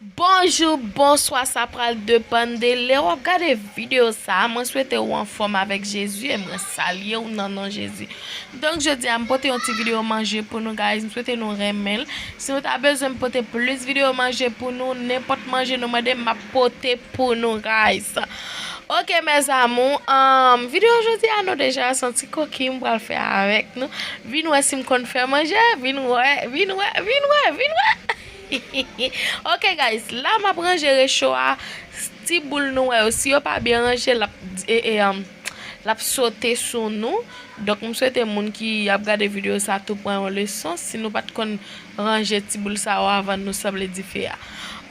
Bonjou, bonswa sa pral depann de lè wap gade video sa, mwen swete ou anfòm avèk Jezi e mwen salye ou nan non Jezi. Donk jodi a m pote yon ti video manje pou nou guys m swete nou renmen l, si nou ta bezwen m pote plis video manje pou nou nenpòt manje nou mande m map pote pou nou guys. Ok mes amours humm video jodi a nou deja santi koki m pral fè avèk nou, vin wè si m konn fè manje, vin wè, vin wè, vin wè, vin wè. Hihihi ok guys la map ranje recho a ti boul nou wè yo si yo pa byen ranje lap lap sote sou nou donk m swete moun ki ap gade video sa tou pran yon leson si nou pat konn ranje ti boul sa yo avan nou sanble dife a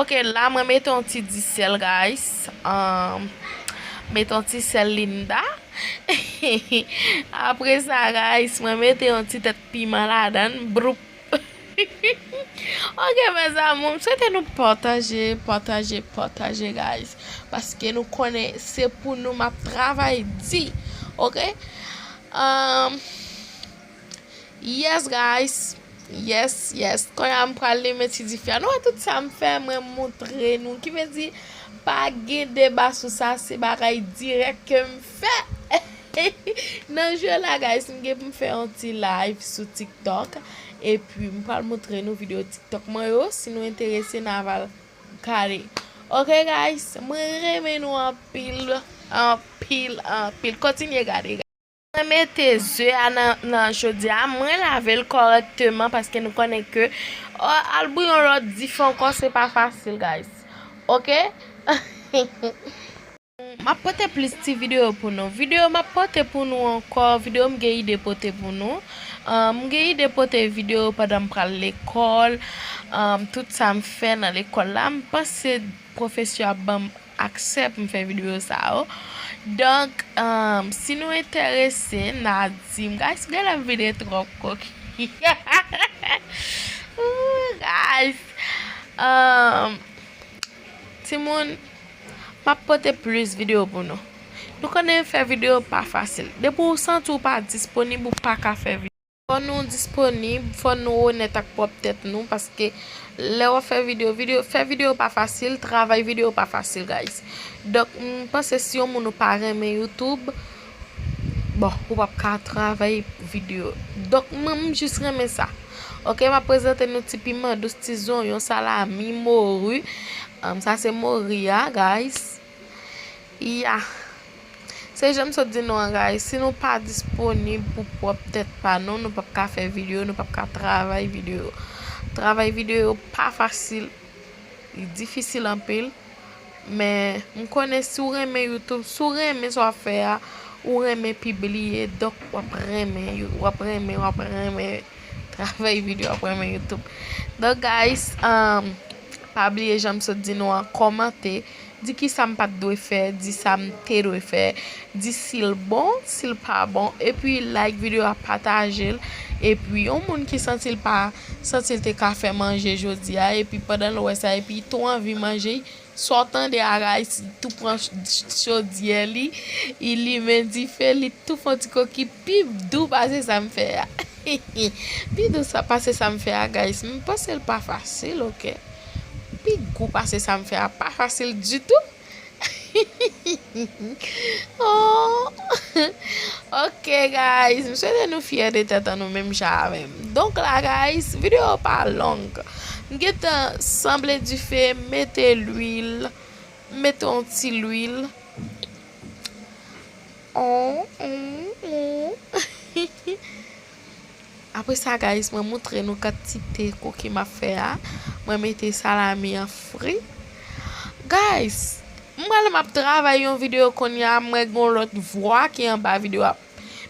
ok la mwen mete yon ti di sèl guys mete yon ti sèl linda hihihi apresa guys mwen mete yon ti tèt piman ladann boup. Ok mes amour m swete nou pataje pataje pataje guys paske nou konnen se pou nou map travay di ok ahh yes guys yes yes konya m pral limen ti dife a nou wè tout sa m fè mwen moutre nou ki vle di pa gen deba sou sa se bagay dirèk kem Fè Nan jeu la guys m gen pou m fè yon ti live sou tiktok epi m pral moutre nou video tiktok mwen yo si nou enterese na va gade ok guys mwen renmen nou anpil anpil anpil kontinye gade guys. Mwen mete ze a nan chodye a mwen lavel kòrèkteman paske nou konnen ke al bouyon lòt difè ankò se pa fasil guys ok. Map pote plis ti video pou nou. Video map pote pou nou ankò video m gen ide pote pou nou. M gen ide pote video pandan m pral lekòl, tout sa m fè nan lekòl la. M panse pwofesè ap ban m aksè pou m fè video sa yo. Donk si nou enterese na di m. Guys m genlè m vide twòp kokenn. Ooh guys. Timoun Map pote plis video pou nou. Nou konnen fè video pa fasil. Depi ou santi ou pa disponib ou paka fè video. Fò nou disponib, fò nou onèt ak pwòp tèt nou paske lè wap fè video, video, fè video pa fasil, travay video pa fasil guys. Donk m panse si yon moun ou pa renmen youtube. Bon ou pap ka travay video. Donk mwen m jis renmen sa. Ok map prezante nou ti piman dous ti zonyon salami moru. Sa se mori a guys. Ya. Se janm sot di nou an guys. Si nou pa disponib pou pwop tet pa nou. Nou pap ka fe video. Nou pap ka travay video. Travay video pa fasil. Li difisil anpil. Men m konnen si w renmen youtube si w renmen sa w ap fè a ou renmen pibliye donk w ap renmen w ap renmen w ap renmen travay video w ap renmen youtube donk guys pa bliye jan m sot di nou an kòmante di kisa m pat dwe fè di sa m te dwe fè Di sil bon sil pa bon epi like video a patajel epi yon moun ki santil pa santil te ka fè manje jodia epi pandanl wè sa epi li tou anvi manje saw tande a Raïs li tou pran chodyè li li limen difel li tou fon ti koki pi dou pase sam fè a hihi pi dou pase sam fè a guys m pansel pa fasil ok pi gou pase sam fè a pa fasil ditou. Oohh ok guys m swete nou fyè de tèt an nou menm jan avèm donk la guys video pa long m gentan sanble dife m mete lwil m mete yon ti lwil oohh oohh oohh. Apre sa guys mwen moutre nou kantite cookie map fè a mwen mete salami an fri guys m pral map travay yon video konnya mwen gon lot vwa ki anba video a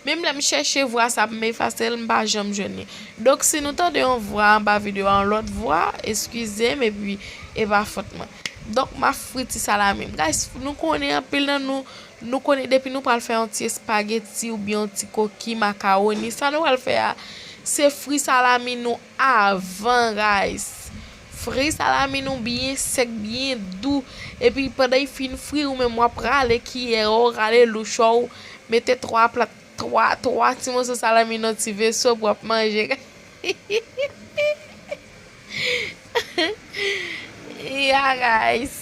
menm lèm chèche vwa sa poum efasel m pa janm jwenn li donk si nou tande yon vwa anba video a yon lot vwa eskizem epi epa fòt mwen donk map fri ti salami m guys nou konnen anpil nan nou Nou konnen depi nou pral fè yon ti espageti oubyen yon ti koki makawoni, sa nou pral fè a, se fri salami nou avan rice. Fri salami nou byen sèk, byen dou, epi pandan y fin fri ou menm wap rale kiyè w, rale louchò w, mete 3 plat, 3, 3 ti moso salami nan ti veso pou wap manje. Yah guys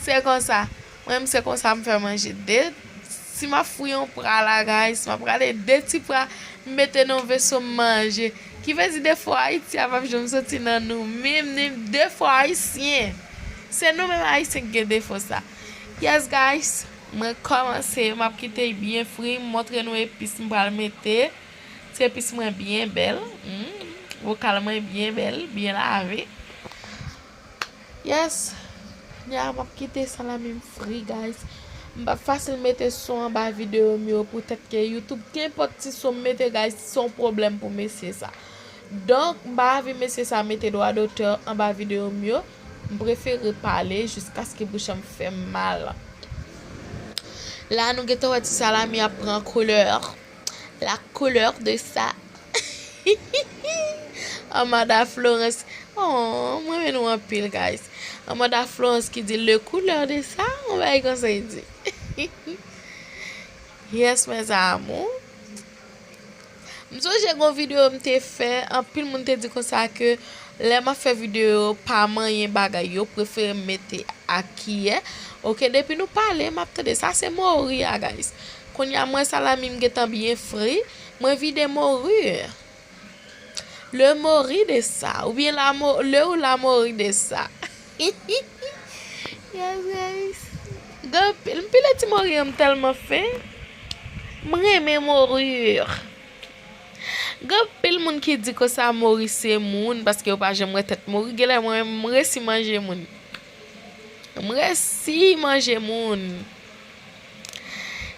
Se konsa Mwen se konsa m fè manje de Si map fri yon pra la guys Map rale de ti pra M mete nan yon veso m manje Ki vle di defo ayiti a pap janm soti nan nou Menm ni defo ayisyen Se nou menm ayisyen ki gen defo sa Yes guys Mwen kòmanse Map kite l byen fri M montre nou epis m pral mete Trepis mwen byen bèl humm vokal mwen byen bèl byen lave yes kounya map kite salami m fri guys m pap fasil mete son anba video m yo pou tèt ke youtube kenpòt ti son m mete guys se yon pwoblèm pou mesye sa donk m pa anvi mesye sa mete dwa dotè anba video m yo m prefere pale jiskaske bouch m fèm mal la nou gentan wè ti salami ap pran koulè. La couleur de sa hihihi Amanda Florence aww m renmen nou anpil guys Amanda Florence ki di le couleur de sa yon bagay konsa li di hihi yes mes amours M sonje gon video m te fè anpil moun te di konsa ke lè map fè video yo pa manyen bagay yo prefere m mete ak kiyè ok depi nou pale map tande sa se Moria guys Kounya mwen salami m gentan byen fri mwen vide morir le mori de sa oubyen la mo le ou la mori de sa hihihi yas guys gen pil m pile ti mori an m telman fen m renmen morir gen pil moun ki di konsa mori se moun paske yo pa janm wè tèt mori genlè mwen menm m resi manje moun. M resi manje moun.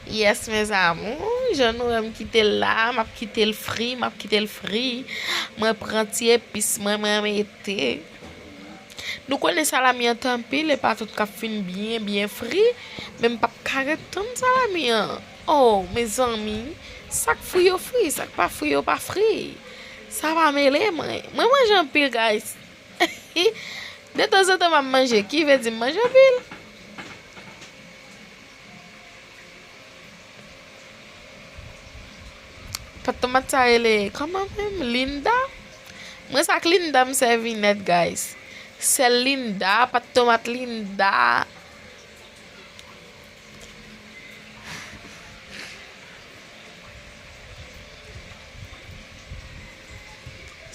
Yes mes amours jan nou wèm kitel la map kitel fri map kitel fri mwen pran ti epis mwen mwen mete nou konnen salami an te anpil epa tout kap fin byen byen fri menm pap ka ret tann salami an oh mezanmi sak fri yo fri sak pa fri yo pa fri sa pa mele mwen mwen manje anpil guys. De tan zan tan map manje ki ve di m manje anpil. Pat tomat sa rele koman menm linda. Mwen sa ak linda m sevi net guys. Sel linda pat tomat linda.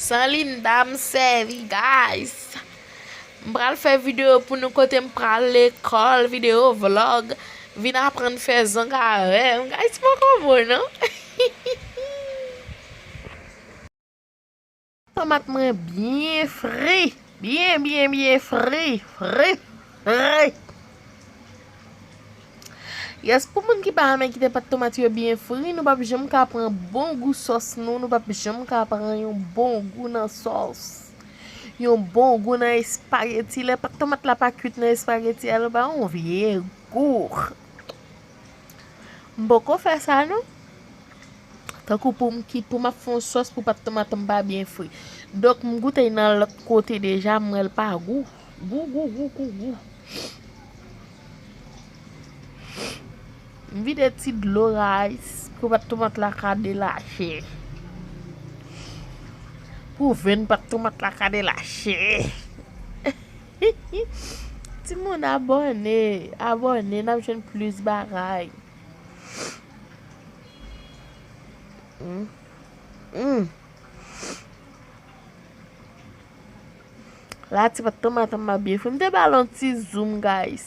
San linda m sèvi guys. M pral fè video pou nou kote m pral lekòl, video vlog, vin aprann fè zong avèm. Guys poko bon non. Tomat mwen byen fri, byen byen byen fri, fri, fri. Yes pou moun ki pa renmen kite pat tomat yo byen fri nou pap janm ka pran bon gou sòs nou, nou pap janm ka pran yon bon gou nan sòs. Yon bon gou nan espageti, lè pat tomat la pa kwit nan espageti a li ba yon vye gou. M poko fè sa non. Tankou poum ki poum ap fon sòs pou pat tomat m pa byen fri. Donk m goute y nan lòt kote deja m wèl pa gou. Gou gou gou gou gou. M vide ti dlo rice pou pat tomat la ka delache. Pou venn pat tomat la ka delache. Timoun abòne abòne nap jwenn plis bagay. La ti pat tanm atanm map byen fri m te bal yon ti zoom guys.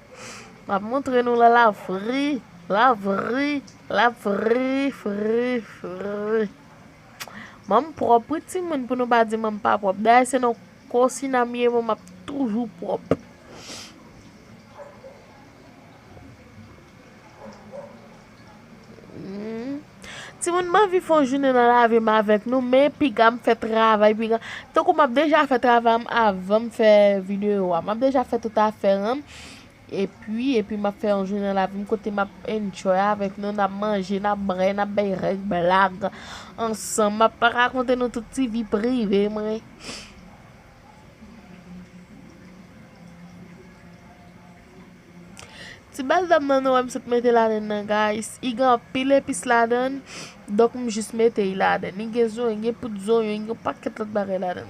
Map montre nou la la vri la vri la vri vri vri Mom prop wi timoun pou nou pa di mom pa prop dayè se nan kosina m ye mom ap toujou prop. Timoun m anvi fon jounen nan lavi m avèk nou men piga m fè travay piga tankou m ap deja fè travay m avan m fè videyo a m ap deja fè tout afè m epi epi m ap fè yon jounen nan lavi m kote m ap enjoy avèk nou n ap manje n ap bwè n ap bay règ blag ansanm m ap rakonte nou tout ti vi prive mwen. Ti baldam nan nou wèm sot mete ladann nan guys I gen anpil epis ladann donk m jis mete I ladann I gen zonyon gen poud zonyon gen yon pakèt lòt bagay ladann.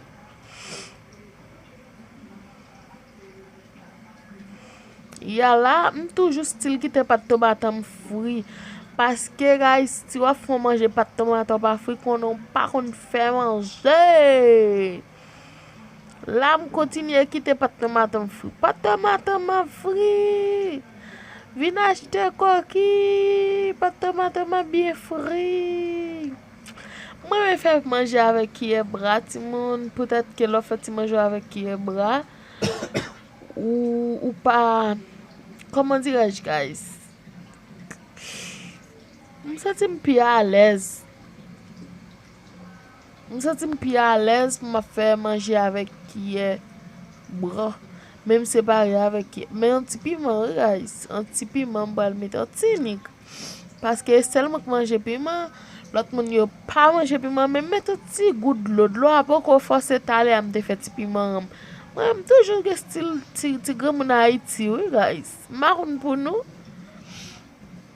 Ya la m toujou stil kite pat tomato m fri paske guys si wap fè yon manje pat tomato pa fri konnen w pa konn fè manje. La m kontinye kite patnè maten m fri. Patnè maten m ap fri. Vin achte koki. Patnè maten m ap byen fri. M renmen fè manje avèk kiyè bra timoun. Petèt ke lè w fè ti manje w avèk kiyè bra, ou pa, kòman dirèj guys? M santi m pi alèz. M santi m pi alèz pou m ap fè manje avèk kiyè bwa. Men m separe avèk kiyè. Men yon ti piman wi guys. Yon ti piman m pral mete. Yon ti nik. Paske e sèl mwen k manje piman. Lòt moun yo pa manje piman. Men m mete yon ti gout dlo. Dlo a poko fò se talè a m te fè ti piman an. Mwen m toujou gen stil ti granmoun ayiti wi guys. M pa konn pou nou.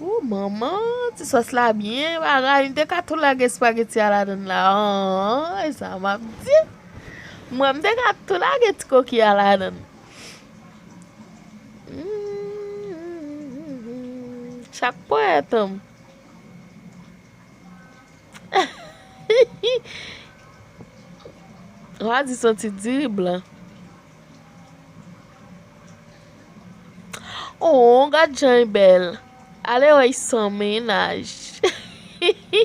Ooh manman ti sòs la byen bagay m te ka tou lage spageti a ladann la ooh e sa map di mwen m te ka tou lage ti koki a ladann chak pwèt m wa di santi diri blan. Ooh gad jan y bèl ale wè y san mennaj hihihi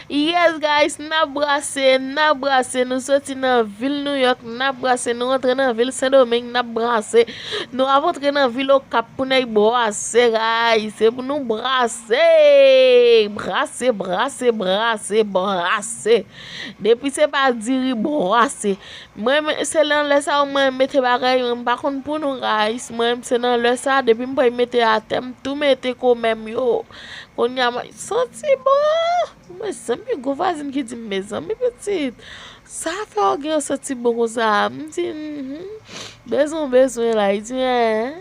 yes guys nap brase nap brase nou soti nan vil nouyòk nap brase nou antre nan vil sendomeng nap brase nou ap antre nan vil okap pou nèy bwase gayy se pou nou brase brase brase brase brase depi se pa diri bwase Mwen menm se nan lè sa yo mwen mete bagay yo m pa konn pou nou guys mwen menm se nan lè sa depi m pran m mete atè m tou mete komè m yo kounya mwen santi bon mezanmi gwo vwazin ki di m mezanmi pitit sa fè w gen yon santi bon konsa m di humm bezwen w bezwen la li di m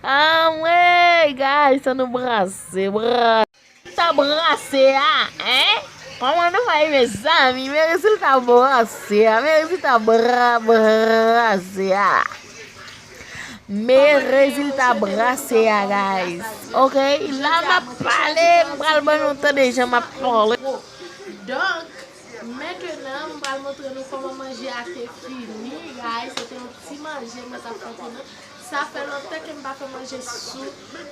anmweyy guys an nou brase brase. Rezilta branse a hein Koman nou fè mezanmi men rezilta branse a men rezilta branse a men rezilta branse a guys ok la map pale m pral ban nou tande jan map pale donk mentenan m pral montre nou koman manje a te fini guys se te yon ti manje mwen tap fè pou nou. Sa fè lontan kem pa fè manje sou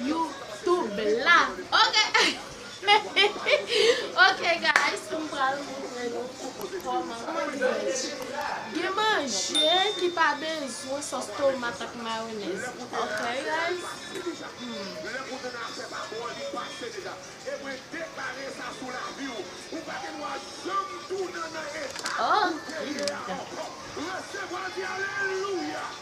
you tube la ok ok guys m pral montre nou koman pou fè gen manje ki pa bezwen sos tomat ak mayonez ok guys.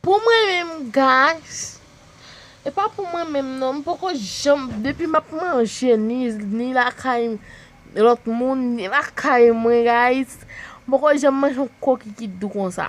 Pou mwen menm guys E pa pou mwen menm non M poko janm Depi map manje Ni lakay Lot moun Ni lakay mwen guys M poko janm manje yon kokikit dou konsa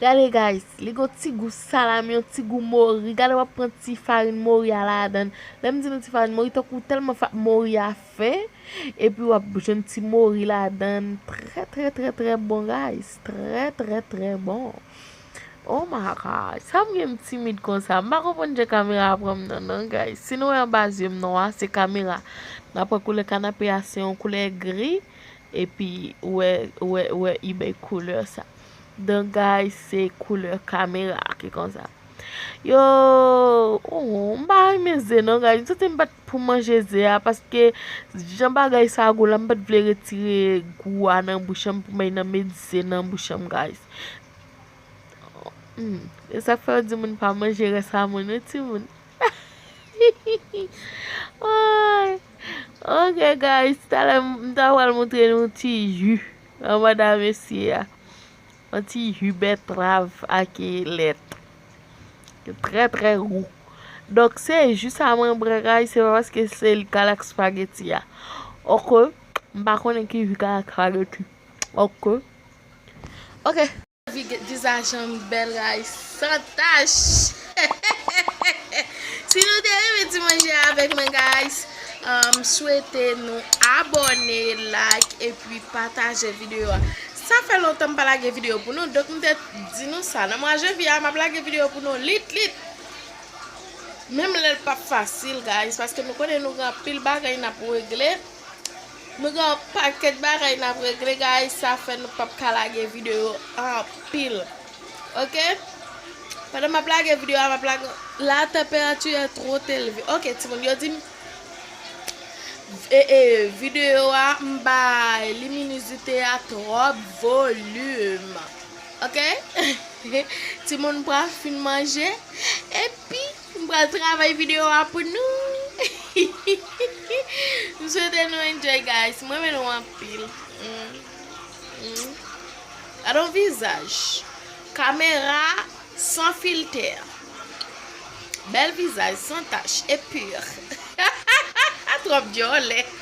Gade guys li gon ti gou salami yon ti gou mori gade wap pran ti farin mori a ladann lèm di nou ti farin mori tankou tèlman fa mori a fen epi wap jwenn ti mori ladann trè trè trè trè bon guys trè trè trè bon oh my god sam gen m timid konsa m pa konprann jan kamera a pranm nan non guys si nou wè anba zye m nwa se kamera nan pran koulè kanape a se yon koulè gri Epi ou wè wè wè u bay couleur sa. Dan guy se couleur camera ki konsa. Yo oh m pa renmen ze non guy m santi m pat pou manje ze a paske jan bagay sa gou la m pat vle retire gou a nan bouch an pou mwen nan met ze nan bouch an guy. Esak fè yo di moun pa manje rès a moun wi timoun. Ok guys talè m ta pral moutre nou yon ti ju nan manda mesye a yon ti ju bètrav ak lèt trè trè gou donk se ju sa mwen pran guys se pa paske se li kal ak spageti a ok m pa konnen ki ju kal ak spageti ok ok Vizajan m bèl ray san tach. Si nou te renmen ti manje a avèk mwen guys m swete nou abòne like epi pataje video a sa fè lontan m pa lage video pou nou donk m te di nou sa nan mwa janvye a m ap lage video pou nou lit lit menm lè l pap fasil guys paske nou konnen nou gen anpil bagay n ap regle. Nou gen yon paket bagay nap regle guys sa fè nou pap ka lage video anpil ok pandan map lage video a map lage la tanperati è tro elve ok ti moun yo dim ee video a m bay liminizite a trop volume ok ti moun pral fin manje epi M pral travay video a pou nou hihihihi m swete nou enjoy guys m renmen nou anpil humm gad on vizaj kamera san filtè bèl vizaj san tach e pur hahahaha trop djòlè.